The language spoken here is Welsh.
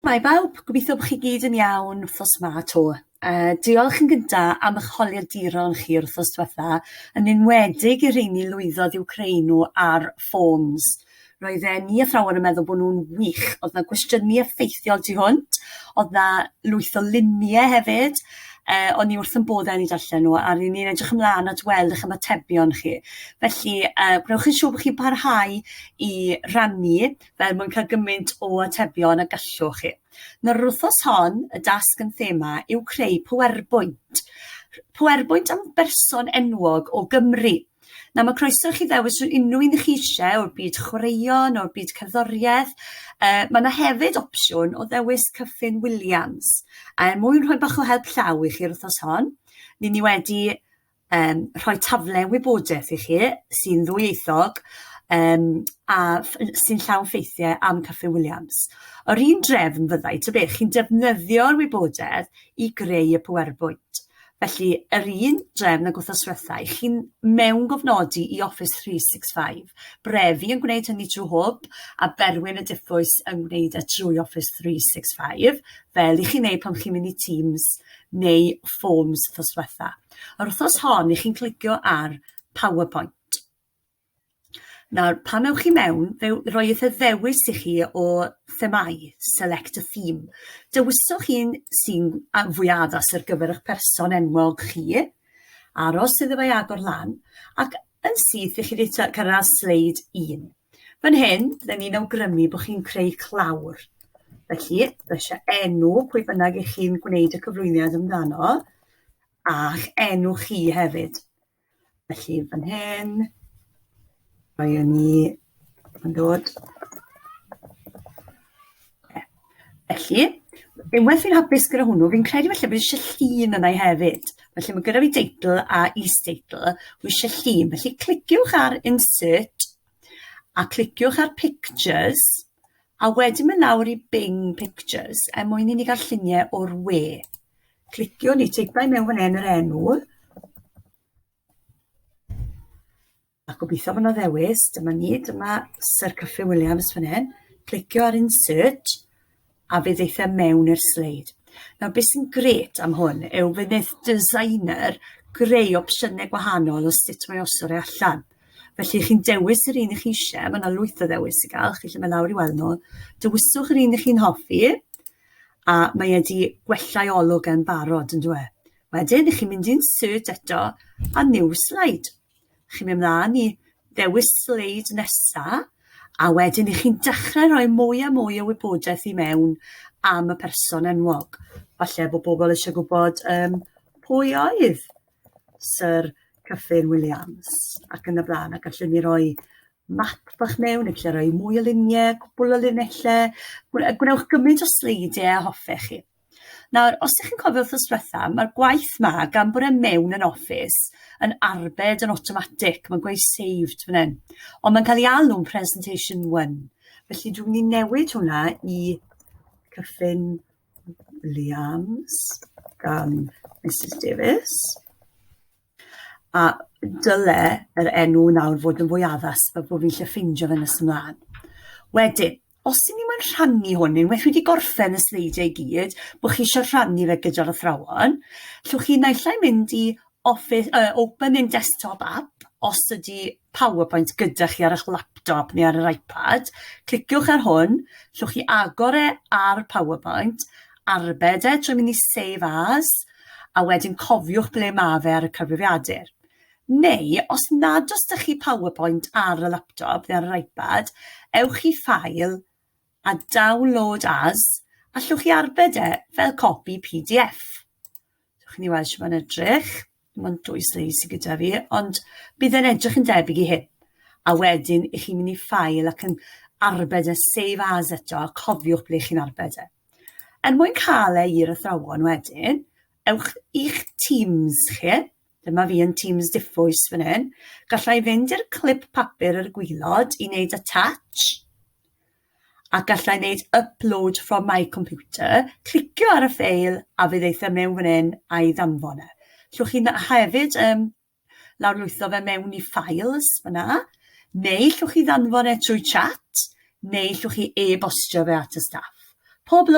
Hi bawb, gobeithio bod chi gyd yn iawn wrthos yma to. Uh, diolch yn gynta am eich holiaduron chi o'r wrthos diwetha, yn enwedig i'r rheini lwyddodd i'w creu nhw ar forms. Roedd e ni athrawon yn meddwl bod nhw'n wych, oedd na gwestiynu effeithiol tu hwnt, oedd na lwyth o luniau hefyd, uh, o'n i wrth yn bod yn ei darllen nhw, a rydyn ni'n edrych ymlaen at weld eich ymatebion chi. Felly, uh, gwnewch yn siŵr bod chi'n parhau i rannu er mwyn cael gymaint o atebion a gallwch chi. Nawr, yr wythnos hon, y dasg yn thema yw creu PowerPoint. PowerPoint am berson enwog o Gymru. Nawr, mae croeso i chi ddewis rhyw unrhyw un chi eisiau o'r byd chwaraeon, o'r byd cerddoriaeth. Uh, mae yna hefyd opsiwn o ddewis Cyffin Williams. A er mwyn rhoi bach o help llaw i chi yr wythnos hon, ni ni wedi um, rhoi tafle wybodaeth i chi sy'n ddwyieithog um, a sy'n llawn ffeithiau am Caffi Williams. Yr un drefn fyddai, ta beth, chi'n defnyddio'r wybodaeth i greu y PowerPoint. Felly, yr un drefn ag wrthos diwetha, i chi'n mewn gofnodi i Office 365. Brefi yn gwneud hynny trwy hwb, a Berwyn y Diffwys yn gwneud y e trwy Office 365, fel i chi'n neud pan chi'n mynd i Teams neu Forms wrthos diwetha. A'r wythnos hon, i chi'n clicio ar PowerPoint. Nawr, pan ewch chi mewn, fe roi eitha ddewis i chi o themau, select a theme. Dewiswch un sy'n fwy addas ar gyfer eich person enwog chi, aros iddo fe agor lan, ac yn syth i chi wedi cyrraedd sleid 1. Fan hyn, byddwn ni'n awgrymu bod chi'n creu clawr. Felly, fe eisiau enw pwy bynnag i chi'n gwneud y cyflwyniad amdano, a'ch enw chi hefyd. Felly fan hyn, mae yn ni yn dod. Felly, unwaith fi'n hapus gyda hwnnw, fi'n credu felly bod eisiau llun yna hefyd. Felly mae gyda fi deitl a is-deitl, mae eisiau llun. Felly cliciwch ar insert a cliciwch ar pictures a wedyn mynd lawr i Bing Pictures er mwyn i ni gael lluniau o'r we. Cliciwn i teipau mewn fan hyn yr enw. A gobeithio fod yna ddewis. Dyma ni, dyma Sir Cyffryn Williams fan hyn. Clicio ar insert a fe ddeitha e mewn i'r sleid. Nawr beth sy'n gret am hwn yw fe wneud designer greu opsiynau gwahanol o sut mae osod e allan. Felly chi'n dewis yr un i chi eisiau, mae yna lwyth o ddewis i gael, chi'n lle mae lawr i weld nhw. Dewiswch yr un i chi'n hoffi, a mae e 'di gwella'i olwg e'n barod yndyw e? Wedyn, chi'n mynd i'n search eto a new slide. Chi'n mynd mlaen i ddewis sleid nesa, a wedyn i chi'n dechrau rhoi mwy a mwy o wybodaeth i mewn am y person enwog. Falle bod pobl eisiau gwybod um, pwy oedd Sir Cyffin Williams ac yn y blaen, ac allwn ni roi map bach mewn, neu lle roi mwy o luniau, cwbl o linellau, gwnewch gymaint o sleidiau a hoffech chi. Nawr, os ydych chi'n cofio wrth ysbrotha, mae'r gwaith ma, gan bod e mewn yn Office, yn arbed yn automatic, mae'n gweud saved fan hyn. Ond mae'n cael ei alw'n presentation 1. Felly dwi'n mynd i newid hwnna i cyffin Liams gan Mrs Davies. A dyle yr enw nawr fod yn fwy addas fel bod fi'n lli ffeindio fe nes ymlaen. Wedyn, os ydyn ni moyn rhannu hwn, unwaith wedi gorffen y sleidiau i gyd, bod chi eisiau rhannu fe gyda'r athrawon, llwch chi naill ai mynd i office, uh, open in desktop app, os ydy PowerPoint gyda chi ar eich laptop neu ar yr iPad, cliciwch ar hwn, llwch chi agor e ar PowerPoint, arbed e trwy mynd i Save As, a wedyn cofiwch ble mae fe ar y cyfrifiadur. Neu, os nad os da chi PowerPoint ar y laptop neu ar yr iPad, ewch i Ffael a Download As, a llwch chi arbed e fel copi PDF. Dewch i ni weld sut mae'n edrych. Mae'n dwy sleis sydd gyda fi, ond bydd e'n edrych yn debyg i hyn. A wedyn, i chi'n mynd i ffael ac yn arbed e save as eto, a cofiwch ble chi'n arbed e. Er mwyn cael e i'r athrawon wedyn, ewch i'ch Teams chi, dyma fi yn Teams diffwys fan hyn, gallai fynd i'r clip papur ar y gwylod i wneud attach, a gallai wneud upload from my computer, clicio ar y ffeil a fe ddeitha mewn fan hyn a'i ddanfon e. Llwch chi'n hefyd um, lawrlwytho fe mewn i files fyna, neu llwch chi ddanfon e trwy chat, neu llwch chi e-bostio fe at y staff. Pob